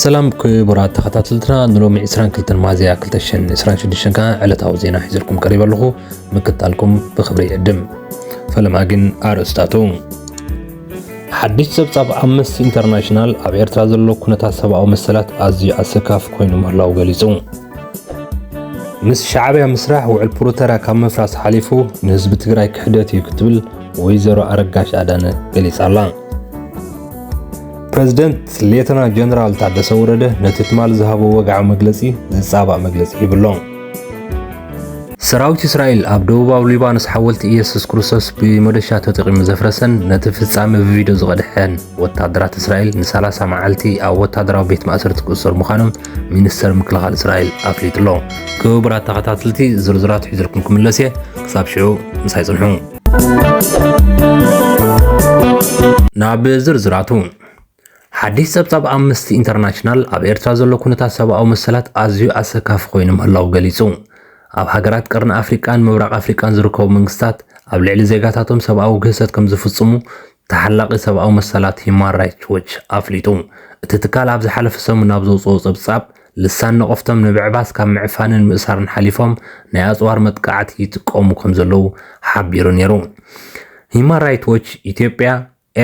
ሰላም ክቡራት ተኸታተልትና ንሎሚ 22 ሚያዝያ 2026 ከዓ ዕለታዊ ዜና ሒዘልኩም ቀሪበ ኣለኹ ምክታልኩም ብክብሪ ይዕድም ፈለማ ግን ኣርእስታቱ ሓድሽ ጸብጻብ ኣምነስቲ ኢንተርናሽናል ኣብ ኤርትራ ዘሎ ኩነታት ሰብኣዊ መሰላት ኣዝዩ ኣሰካፍ ኮይኑ ምህላው ገሊጹ ምስ ሻዕብያ ምስራሕ ውዕል ፕሮተራ ካብ ምፍራስ ሓሊፉ ንህዝቢ ትግራይ ክሕደት እዩ ክትብል ወይዘሮ ኣረጋሽ ኣዳነ ገሊጻ ኣላ ፕረዚደንት ሌተና ጀነራል ታደሰ ወረደ ነቲ ትማል ዝሃቦ ወግዓዊ መግለጺ ዝጻባእ መግለጺ ሂቡ ኣሎ። ሰራዊት እስራኤል ኣብ ደቡባዊ ሊባኖስ ሓወልቲ ኢየሱስ ክርስቶስ ብመዶሻ ተጠቂሙ ዘፍረሰን ነቲ ፍጻመ ብቪድዮ ዝቐድሐን ወተሃደራት እስራኤል ን30 መዓልቲ ኣብ ወተሃደራዊ ቤት ማእሰርቲ ክእሰሩ ምዃኖም ሚኒስተር ምክልኻል እስራኤል ኣፍሊጡ'ሎ። ክቡራት ተኸታተልቲ ዝርዝራት ሒዘልኩም ክምለስ እየ። ክሳብ ሽዑ ምሳይ ጽንሑ። ናብ ዝርዝራቱ ሓዲስ ጸብጻብ ኣምነስቲ ኢንተርናሽናል ኣብ ኤርትራ ዘሎ ኩነታት ሰብኣዊ መሰላት ኣዝዩ ኣሰካፊ ኮይኑ ምህላው ገሊጹ። ኣብ ሃገራት ቀርኒ ኣፍሪቃን ምብራቕ ኣፍሪቃን ዝርከቡ መንግስታት ኣብ ልዕሊ ዜጋታቶም ሰብኣዊ ግህሰት ከም ዝፍጽሙ ተሓላቒ ሰብኣዊ መሰላት ሂዩማን ራይትስ ዎች ኣፍሊጡ። እቲ ትካል ኣብ ዝሓለፈ ሰሙን ኣብ ዘውጽኦ ጸብጻብ፣ ልሳን ነቐፍቶም ንምዕባስ ካብ ምዕፋንን ምእሳርን ሓሊፎም ናይ ኣጽዋር መጥቃዕቲ ይጥቀሙ ከምዘለዉ ሓቢሩ ነይሩ። ሂዩማን ራይትስ ዎች ኢትዮጵያ፣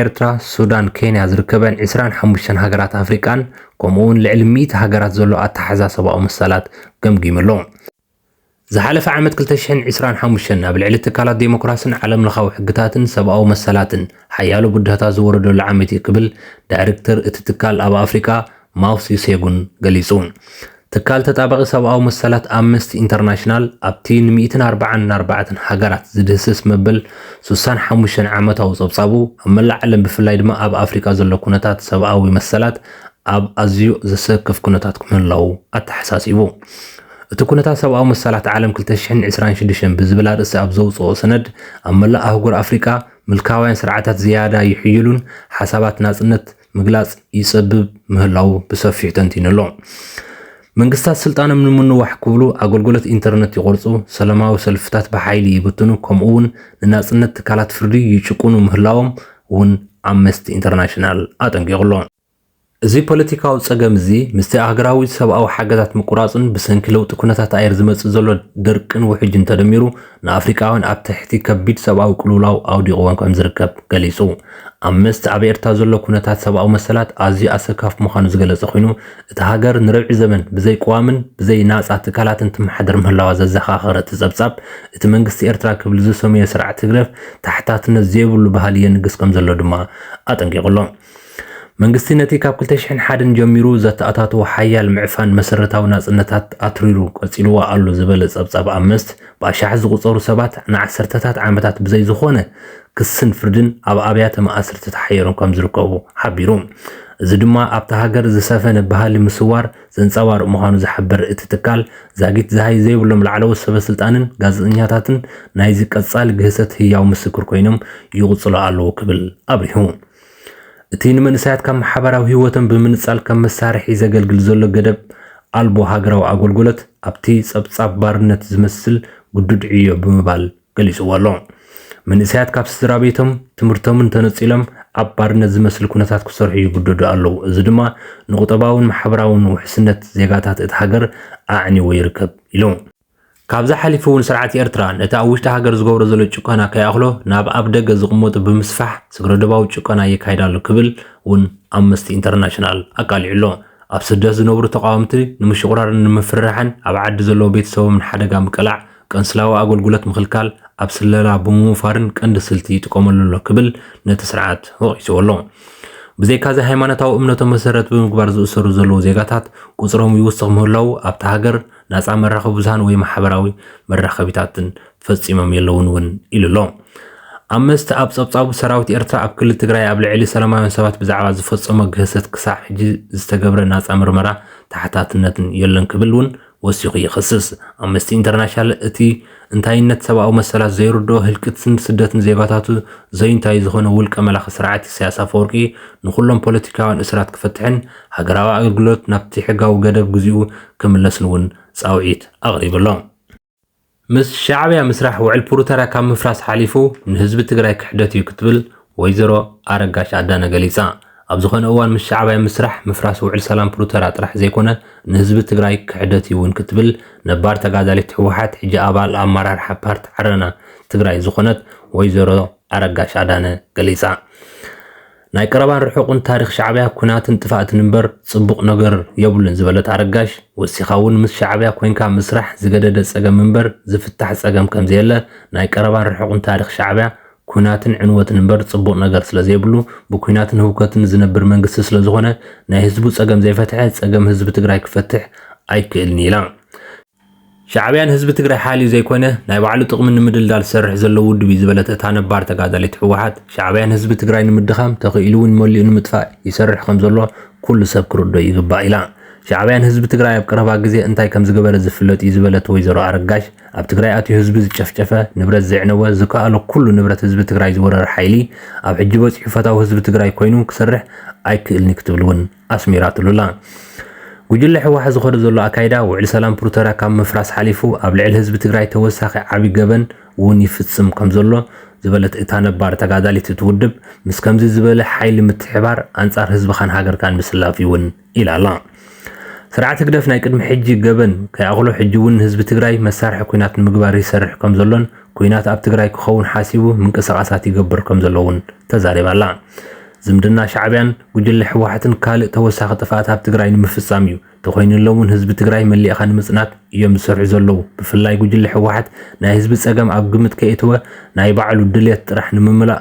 ኤርትራ፣ ሱዳን፣ ኬንያ ዝርከበን ዕስራን ሓሙሽተን ሃገራት ኣፍሪቃን ከምኡ'ውን ልዕሊ ሚእቲ ሃገራት ዘሎ ኣተሓሕዛ ሰብኣዊ መሰላት ገምጊሙ ኣሎ። ዝሓለፈ ዓመት ክልተ ሽሕን ዕስራን ሓሙሽተን ኣብ ልዕሊ ትካላት ዴሞክራስን ዓለምለኻዊ ሕግታትን ሰብኣዊ መሰላትን ሓያሎ ብድሆታት ዝወረደሉ ዓመት እዩ ክብል ዳይሬክተር እቲ ትካል ኣብ ኣፍሪቃ ማውስ ዩሴጉን ገሊጹ። ትካል ተጣባቒ ሰብኣዊ መሰላት ኣምነስቲ ኢንተርናሽናል ኣብቲ ንሚእትን ኣርባዓን ኣርባዕተን ሃገራት ዝድህስስ መበል ሱሳን ሓሙሽተን ዓመታዊ ጸብጻቡ ኣብ መላእ ዓለም ብፍላይ ድማ ኣብ ኣፍሪቃ ዘሎ ኩነታት ሰብኣዊ መሰላት ኣብ ኣዝዩ ዘሰክፍ ኩነታት ምህላዉ ኣተሓሳሲቡ። እቲ ኩነታት ሰብኣዊ መሰላት ዓለም ክልተ ሽሕን ዕስራን ሽዱሽተን ብዝብል ኣርእስቲ ኣብ ዘውጽኦ ሰነድ፣ ኣብ መላእ ኣህጉር ኣፍሪቃ ምልካውያን ስርዓታት ዝያዳ ይሕይሉን ሓሳባት ናጽነት ምግላጽ ይጸብብ ምህላዉ ብሰፊሑ ተንቲኑ ኣሎ። መንግስታት ስልጣኖም ንምንዋሕ ክብሉ ኣገልግሎት ኢንተርነት ይቖርጹ፣ ሰለማዊ ሰልፍታት ብሓይሊ ይብትኑ ከምኡ'ውን ንናጽነት ትካላት ፍርዲ ይጭቁኑ ምህላዎም እውን ኣምነስቲ ኢንተርናሽናል ኣጠንቂቑ ኣሎ። እዚ ፖለቲካዊ ጸገም እዚ ምስቲ ኣህግራዊ ሰብኣዊ ሓገዛት ምቁራጽን ብሰንኪ ለውጢ ኩነታት ኣየር ዝመጽእ ዘሎ ድርቅን ውሕጅን ተደሚሩ ንኣፍሪቃውያን ኣብ ትሕቲ ከቢድ ሰብኣዊ ቅልውላው ኣውዲቕዎም ከምዝርከብ ገሊጹ። ኣምነስቲ ኣብ ኤርትራ ዘሎ ኩነታት ሰብኣዊ መሰላት ኣዝዩ ኣሰካፊ ምዃኑ ዝገለጸ ኮይኑ እታ ሃገር ንርብዒ ዘመን ብዘይቅዋምን ብዘይ ናጻ ትካላትን ትመሓደር ምህላዋ ዘዘኻኸረ እቲ ጸብጻብ እቲ መንግስቲ ኤርትራ ክብል ዝሰመዮ ስርዓት ህግደፍ ተሓታትነት ዘይብሉ ባህሊ የንግስ ከምዘሎ ድማ ኣጠንቂቑ ኣሎ። መንግስቲ ነቲ ካብ ክልተ ሽሕን ሓደን ጀሚሩ ዘተኣታተዎ ሓያል ምዕፋን መሰረታዊ ናጽነታት ኣትሪሩ ቀጺልዎ ኣሎ ዝበለ ጸብጻብ ኣምነስት፣ ብኣሽሓት ዝቑጸሩ ሰባት ንዓሰርተታት ዓመታት ብዘይ ዝኾነ ክስን ፍርድን ኣብ ኣብያተ ማእስርቲ ተሓይሮም ከምዝርከቡ ሓቢሩ። እዚ ድማ ኣብታ ሃገር ዝሰፈነ ባህሊ ምስዋር ዘንጸባርቕ ምዃኑ ዝሓበረ እቲ ትካል፣ ዛጊት ዝሃይ ዘይብሎም ላዕለዎት ሰበስልጣንን ጋዜጠኛታትን ናይዚ ቀጻሊ ግህሰት ህያው ምስክር ኮይኖም ይቕጽሉ ኣለዉ ክብል ኣብሪሁ። እቲ ንመንእሰያት ካብ ማሕበራዊ ህይወቶም ብምንጻል ከም መሳርሒ ዘገልግል ዘሎ ገደብ ኣልቦ ሃገራዊ ኣጎልጎለት ኣብቲ ጸብጻብ ባርነት ዝመስል ግዱድ ዕዮ ብምባል ገሊጽዎ ኣሎ። መንእሰያት ካብ ስድራቤቶም፣ ትምህርቶምን ተነጺሎም ኣብ ባርነት ዝመስል ኩነታት ክሰርሑ ይግደዱ ኣለዉ፣ እዚ ድማ ንቁጠባውን ማሕበራውን ውሕስነት ዜጋታት እታ ሃገር ኣዕኒዎ ይርከብ ኢሉ። ካብዚ ሓሊፉ እውን ስርዓት ኤርትራ ነቲ ኣብ ውሽጢ ሃገር ዝገብሮ ዘሎ ጭቆና ከይኣኽሎ ናብ ኣብ ደገ ዝቕመጡ ብምስፋሕ ስግረዶባዊ ጭቆና የካይድ ኣሎ ክብል እውን ኣምነስቲ ኢንተርናሽናል ኣቃሊዑ ኣሎ። ኣብ ስደት ዝነብሩ ተቓወምቲ ንምሽቑራርን ንምፍርራሕን ኣብ ዓዲ ዘለዉ ቤተሰቦም ንሓደጋ ምቅላዕ፣ ቀንስላዊ ኣገልግሎት ምኽልካል፣ ኣብ ስለላ ብምውፋርን ቀንዲ ስልቲ ይጥቀመሉ ኣሎ ክብል ነቲ ስርዓት ወቒስዎ ኣሎ። ብዘይካዚ ሃይማኖታዊ እምነቶም መሰረት ብምግባር ዝእሰሩ ዘለዉ ዜጋታት ቁጽሮም ይውስኽ ምህላዉ ኣብታ ሃገር ናፃ መራኸቢ ብዙሃን ወይ ማሕበራዊ መራኸቢታትን ፈፂሞም የለውን እውን ኢሉ ኣሎ። ኣምነስቲ ኣብ ፀብፃቡ ሰራዊት ኤርትራ ኣብ ክልል ትግራይ ኣብ ልዕሊ ሰላማውያን ሰባት ብዛዕባ ዝፈፀሞ ግህሰት ክሳዕ ሕጂ ዝተገብረ ናፃ ምርመራ ተሓታትነትን የሎን ክብል እውን ወሲኹ ይኸስስ። ኣምነስቲ ኢንተርናሽናል እቲ እንታይነት ሰብኣዊ መሰላት ዘይርድኦ ህልቂትስን ስደትን ዜጋታቱ ዘዩንታይ ዝኾነ ውልቀ መላኺ ስርዓት ኢሳያስ ኣፈወርቂ ንኹሎም ፖለቲካውያን እሱራት ክፈትሕን ሃገራዊ ኣገልግሎት ናብቲ ሕጋዊ ገደብ ግዚኡ ክምለስን እውን ጻውዒት ኣቕሪቡ ኣሎ። ምስ ሻዕብያ ምስራሕ ውዕል ፕሩተርያ ካብ ምፍራስ ሓሊፉ ንህዝቢ ትግራይ ክሕደት እዩ ክትብል ወይዘሮ ኣረጋሽ ኣዳነ ገሊፃ። ኣብ ዝኾነ እዋን ምስ ሻዕብያ ምስራሕ ምፍራስ ውዕል ሰላም ፕሩተርያ ጥራሕ ዘይኮነ ንህዝቢ ትግራይ ክሕደት እዩ እውን ክትብል ነባር ተጋዳሊት ህወሓት ሕጂ ኣባል ኣመራርሓ ፓርቲ ዓረና ትግራይ ዝኾነት ወይዘሮ ኣረጋሽ ኣዳነ ገሊፃ። ናይ ቀረባን ርሑቕን ታሪኽ ሻዕብያ ኩናትን ጥፋእትን እምበር ፅቡቕ ነገር የብሉን ዝበለት ኣረጋሽ ወሲኻ እውን ምስ ሻዕብያ ኮይንካ ምስራሕ ዝገደደ ፀገም እምበር ዝፍታሕ ፀገም ከምዘየለ ናይ ቀረባን ርሑቕን ታሪኽ ሻዕብያ ኲናትን ዕንወትን እምበር ጽቡቕ ነገር ስለ ዘይብሉ፣ ብኲናትን ህውከትን ዝነብር መንግስቲ ስለ ዝኾነ፣ ናይ ህዝቡ ጸገም ዘይፈትሐ፣ ጸገም ህዝቢ ትግራይ ክፈትሕ ኣይክእልን ኢላ። ሻዕብያ ንህዝቢ ትግራይ ሓልዩ ዘይኮነ፣ ናይ ባዕሉ ጥቕሚ ንምድልዳል ዝሰርሕ ዘሎ ውድብ እዩ ዝበለት እታ ነባር ተጋዳሊት ህወሓት፣ ሻዕብያ ንህዝቢ ትግራይ ንምድኻም፣ ተኽኢሉ'ውን መሊኡ ንምጥፋእ ይሰርሕ ከም ዘሎ ኩሉ ሰብ ክርድኦ ይግባእ ኢላ። ሻዕብያ ንህዝቢ ትግራይ ኣብ ቀረባ ግዜ እንታይ ከም ዝገበረ ዝፍለጥ እዩ ዝበለት ወይዘሮ ኣረጋሽ፣ ኣብ ትግራይ ኣትዩ ህዝቢ ዝጨፍጨፈ፣ ንብረት ዘዕነወ፣ ዝከኣሎ ኩሉ ንብረት ህዝቢ ትግራይ ዝወረረ ሓይሊ ኣብ ሕጂ በጺሑ ፈታዊ ህዝቢ ትግራይ ኮይኑ ክሰርሕ ኣይክእልን'ዩ ክትብል እውን ኣስሚራትሉ'ላ። ጉጅለ ህወሓት ዝኸዶ ዘሎ ኣካይዳ ውዕሊ ሰላም ፕሩቶርያ ካብ ምፍራስ ሓሊፉ ኣብ ልዕሊ ህዝቢ ትግራይ ተወሳኺ ዓቢ ገበን እውን ይፍጽም ከምዘሎ ዝበለት እታ ነባር ተጋዳሊት እቲ ውድብ ምስ ከምዚ ዝበለ ሓይሊ ምትሕባር ኣንጻር ህዝብኻን ሃገርካን ምስላፍ'ዩ እውን ኢላ ኣላ። ስርዓት ህግደፍ ናይ ቅድሚ ሕጂ ገበን ከይኣኽሎ ሕጂ እውን ንህዝቢ ትግራይ መሳርሒ ኲናት ንምግባር ይሰርሕ ከም ዘሎን ኲናት ኣብ ትግራይ ክኸውን ሓሲቡ ምንቅስቓሳት ይገብር ከም ዘሎ እውን ተዛሪባ ኣላ። ዝምድና ሻዕቢያን ጉጅለ ህወሓትን ካልእ ተወሳኺ ጥፍኣት ኣብ ትግራይ ንምፍፃም እዩ። ተኾይንሎም እውን ህዝቢ ትግራይ መሊእኻ ንምፅናት እዮም ዝሰርሑ ዘለዉ። ብፍላይ ጉጅለ ህወሓት ናይ ህዝቢ ፀገም ኣብ ግምት ከየእተወ ናይ ባዕሉ ድልየት ጥራሕ ንምምላእ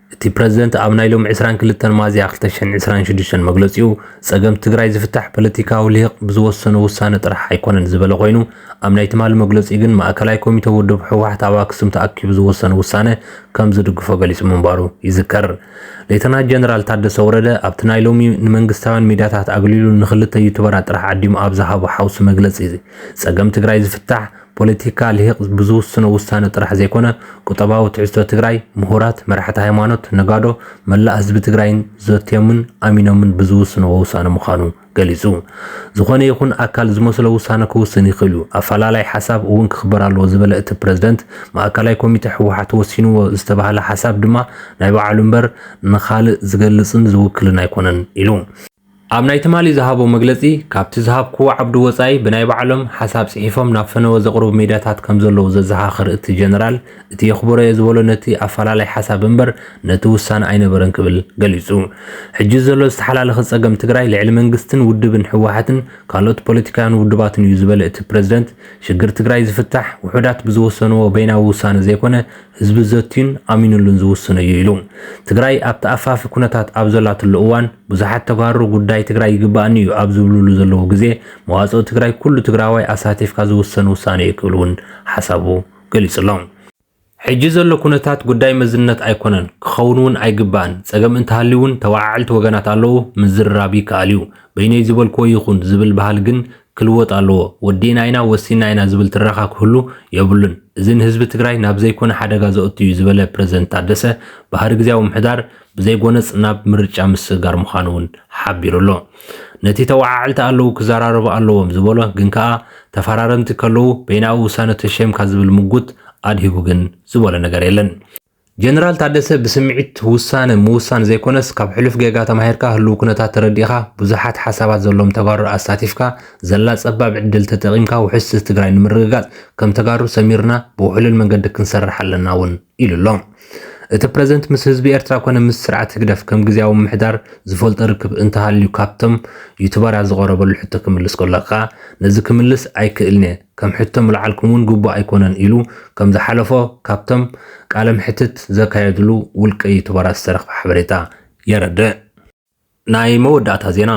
እቲ ፕረዚደንት ኣብ ናይ ሎሚ ዕስራን ክልተን ሚያዝያ ክልተ ሽሕን ዕስራን ሽዱሽተን መግለጺኡ፣ ጸገም ትግራይ ዝፍታሕ ፖለቲካዊ ልሂቕ ብዝወሰኖ ውሳነ ጥራሕ ኣይኮነን ዝበለ ኮይኑ፣ ኣብ ናይ ትማሊ መግለጺኡ ግን ማእከላይ ኮሚተ ውድብ ህወሓት ኣብ ኣክሱም ተኣኪቡ ዝወሰኖ ውሳነ ከምዝድግፎ ገሊጹ ምንባሩ ይዝከር። ሌተናት ጀነራል ታደሰ ወረደ ኣብቲ ናይ ሎሚ ንመንግስታውያን ሚድያታት ኣግሊሉ ንክልተ ዩቱበራት ጥራሕ ዓዲሙ ኣብ ዝሃቦ ሓውሲ መግለጺ፣ ጸገም ትግራይ ዝፍታሕ ፖለቲካ ልሂቅ ብዝውስኖ ውሳነ ጥራሕ ዘይኮነ ቁጠባዊ ትሕዝቶ ትግራይ ምሁራት፣ መራሕቲ ሃይማኖት፣ ነጋዶ፣ መላእ ህዝቢ ትግራይን ዘትዮምን ኣሚኖምን ብዝውስንዎ ውሳነ ምዃኑ ገሊፁ። ዝኾነ ይኹን ኣካል ዝመስሎ ውሳነ ክውስን ይኽእል ዩ፣ ኣፈላላይ ሓሳብ እውን ክኽበር ኣለዎ ዝበለ እቲ ፕረዚደንት ማእከላይ ኮሚቴ ህወሓት ወሲንዎ ዝተብሃለ ሓሳብ ድማ ናይ ባዕሉ ምበር ንኻልእ ዝገልፅን ዝውክልን ኣይኮነን ኢሉ። ኣብ ናይ ትማሊ ዝሃቦ መግለጺ፣ ካብቲ ዝሃብክዎ ዓብዲ ወጻኢ ብናይ ባዕሎም ሓሳብ ጽሒፎም ናብ ፈነወ ዘቕርቡ ሚድያታት ከምዘለዉ ዘዘኻኽር እቲ ጀነራል፣ እቲ የኽብሮ'የ ዝበሎ ነቲ ኣፈላላይ ሓሳብ እምበር ነቲ ውሳነ ኣይነበረን ክብል ገሊጹ። ሕጂ ዘሎ ዝተሓላለኸ ጸገም ትግራይ ልዕሊ መንግስትን ውድብን ህወሓትን ካልኦት ፖለቲካውያን ውድባትን'ዩ ዝበለ እቲ ፕረዚደንት፣ ሽግር ትግራይ ዝፍታሕ ውሑዳት ብዝወሰንዎ በይናዊ ውሳነ ዘይኮነ ህዝቢ ዘትዩን ኣሚኑሉን ዝውስኖ እዩ ኢሉ። ትግራይ ኣብ ተኣፋፊ ኩነታት ኣብ ዘላትሉ እዋን ብዙሓት ተጋሩ ጉዳይ ትግራይ ይግበኣኒ እዩ ኣብ ዝብልሉ ዘለዉ ግዜ መዋፅኦ ትግራይ ኩሉ ትግራዋይ ኣሳቲፍካ ዝውሰን ውሳነ እዩ ክብል እውን ሓሳቡ ገሊፁ ኣሎ። ሕጂ ዘሎ ኩነታት ጉዳይ መዝነት ኣይኮነን፣ ክኸውን እውን ኣይግባእን፣ ፀገም እንተሃልዩ እውን ተወዓዕልቲ ወገናት ኣለዉ ምዝርራብ ይከኣል እዩ፣ በይነይ ዝበልክዎ ይኹን ዝብል ባህሊ ግን ክልወጥ ኣለዎ ወዲእና ኢና ወሲንና ኢና ዝብል ትረኻ ክህሉ የብሉን እዚ ንህዝቢ ትግራይ ናብ ዘይኮነ ሓደጋ ዘእቱ እዩ ዝበለ ፕረዚደንት ታደሰ ባህሪ ግዝያዊ ምሕዳር ብዘይጎነፅ ናብ ምርጫ ምስግጋር ምዃኑ እውን ሓቢሩ ኣሎ ነቲ ተወዓዕልቲ ኣለዉ ክዘራረቡ ኣለዎም ዝበሎ ግን ከኣ ተፈራረምቲ ከለዉ በይናዊ ውሳነ ተሸምካ ዝብል ምጉት ኣድሂቡ ግን ዝበሎ ነገር የለን ጀነራል ታደሰ ብስምዒት ውሳነ ምውሳን ዘይኮነስ ካብ ሕሉፍ ጌጋ ተማሂርካ ህልው ኩነታት ተረዲእኻ ብዙሓት ሓሳባት ዘለዎም ተጋሩ ኣሳቲፍካ ዘላ ፀባብ ዕድል ተጠቒምካ ውሕስቲ ትግራይ ንምርግጋፅ ከም ተጋሩ ሰሚርና ብውሕሉል መንገዲ ክንሰርሕ ኣለና እውን ኢሉ ኣሎ። እቲ ፕረዚደንት ምስ ህዝቢ ኤርትራ ኮነ ምስ ስርዓት ህግደፍ ከም ግዝያዊ ምምሕዳር ዝፈልጦ ርክብ እንተሃልዩ ካብቶም ዩቱበራት ዝቐረበሉ ሕቶ ክምልስ ከሎ ከኣ ነዚ ክምልስ ኣይክእልን'የ ከም ሕቶ ምልዓልኩም ውን ግቡእ ኣይኮነን ኢሉ ከም ዝሓለፎ ካብቶም ቃለ መሕትት ዘካየድሉ ውልቀ ዩቱበራት ዝተረኽበ ሓበሬታ የረድእ። ናይ መወዳእታ ዜና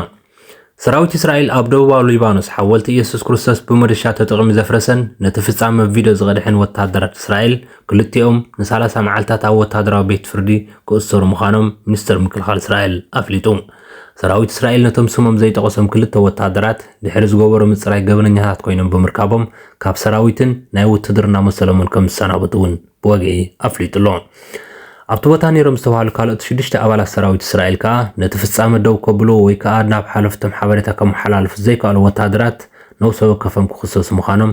ሰራዊት እስራኤል ኣብ ደቡባዊ ሊባኖስ ሓወልቲ ኢየሱስ ክርስቶስ ብመዶሻ ተጠቒሙ ዘፍረሰን ነቲ ፍጻመ ቪድዮ ዝቐድሐን ወተሃደራት እስራኤል ክልቲኦም ንሳላሳ መዓልታት ኣብ ወተሃደራዊ ቤት ፍርዲ ክእሰሩ ምዃኖም ሚኒስተር ምክልኻል እስራኤል ኣፍሊጡ። ሰራዊት እስራኤል ነቶም ስሞም ዘይጠቐሶም ክልተ ወተሃደራት ድሕሪ ዝገበሮ ምጽራይ ገበነኛታት ኮይኖም ብምርካቦም ካብ ሰራዊትን ናይ ውትድርና መሰሎም እውን ከም ዝሰናበቱ እውን ብወግዒ ኣፍሊጡ ኣሎ። ኣብቲ ቦታ ነይሮም ዝተባሃሉ ካልኦት ሽዱሽተ ኣባላት ሰራዊት እስራኤል ከኣ ነቲ ፍጻመ ደው ከብልዎ ወይ ከኣ ናብ ሓለፍቶም ሓበሬታ ከመሓላልፉ ዘይከኣሉ ወተሃደራት ነብሰ ወከፎም ክኽሰሱ ምዃኖም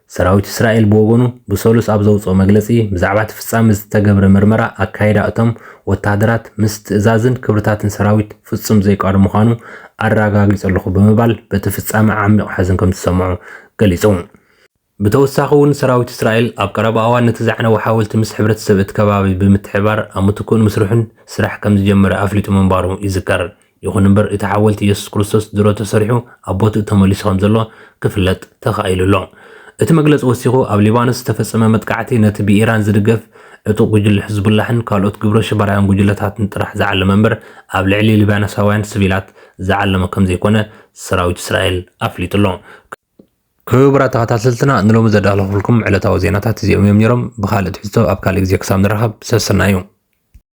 ሰራዊት እስራኤል ብወገኑ ብሰሉስ ኣብ ዘውጽኦ መግለጺ፣ ብዛዕባ እቲ ፍጻመ ዝተገብረ ምርመራ ኣካይዳ እቶም ወተሃደራት ምስ ትእዛዝን ክብርታትን ሰራዊት ፍጹም ዘይቃዶ ምዃኑ ኣረጋጊጸ ኣለኹ ብምባል በቲ ፍጻመ ዓሚቝ ሓዘን ከም ዝሰምዖ ገሊጹ። ብተወሳኺ'ውን ሰራዊት እስራኤል ኣብ ቀረባ እዋን ነቲ ዘዕነወ ሓወልቲ ምስ ሕብረተሰብ እቲ ከባቢ ብምትሕብባር ኣብ ምትክኡ ንምስርሑ ስራሕ ከም ዝጀመረ ኣፍሊጡ ምንባሩ ይዝከር። ይኹን እምበር እቲ ሓወልቲ የሱስ ክርስቶስ ድሮ ተሰሪሑ ኣብ ቦትኡ ተመሊሱ ከም ዘሎ ክፍለጥ ተኻኢሉ ኣሎ። እቲ መግለጺ ወሲኹ፣ ኣብ ሊባኖስ ዝተፈጸመ መጥቃዕቲ ነቲ ብኢራን ዝድገፍ ዕጡቕ ጉጅለ ሕዝቡላሕን ካልኦት ግብረ ሽበራውያን ጉጅለታትን ጥራሕ ዝዓለመ እምበር ኣብ ልዕሊ ሊባኖሳውያን ስቪላት ዝዓለመ ከም ዘይኮነ ሰራዊት እስራኤል ኣፍሊጡ ኣሎ። ክቡራት ተኸታተልትና ንሎሚ ዘዳለኹልኩም ዕለታዊ ዜናታት እዚኦም እዮም ኔሮም። ብኻልእ ትሕዝቶ ኣብ ካልእ ግዜ ክሳብ ንራኸብ ሰስናዩ።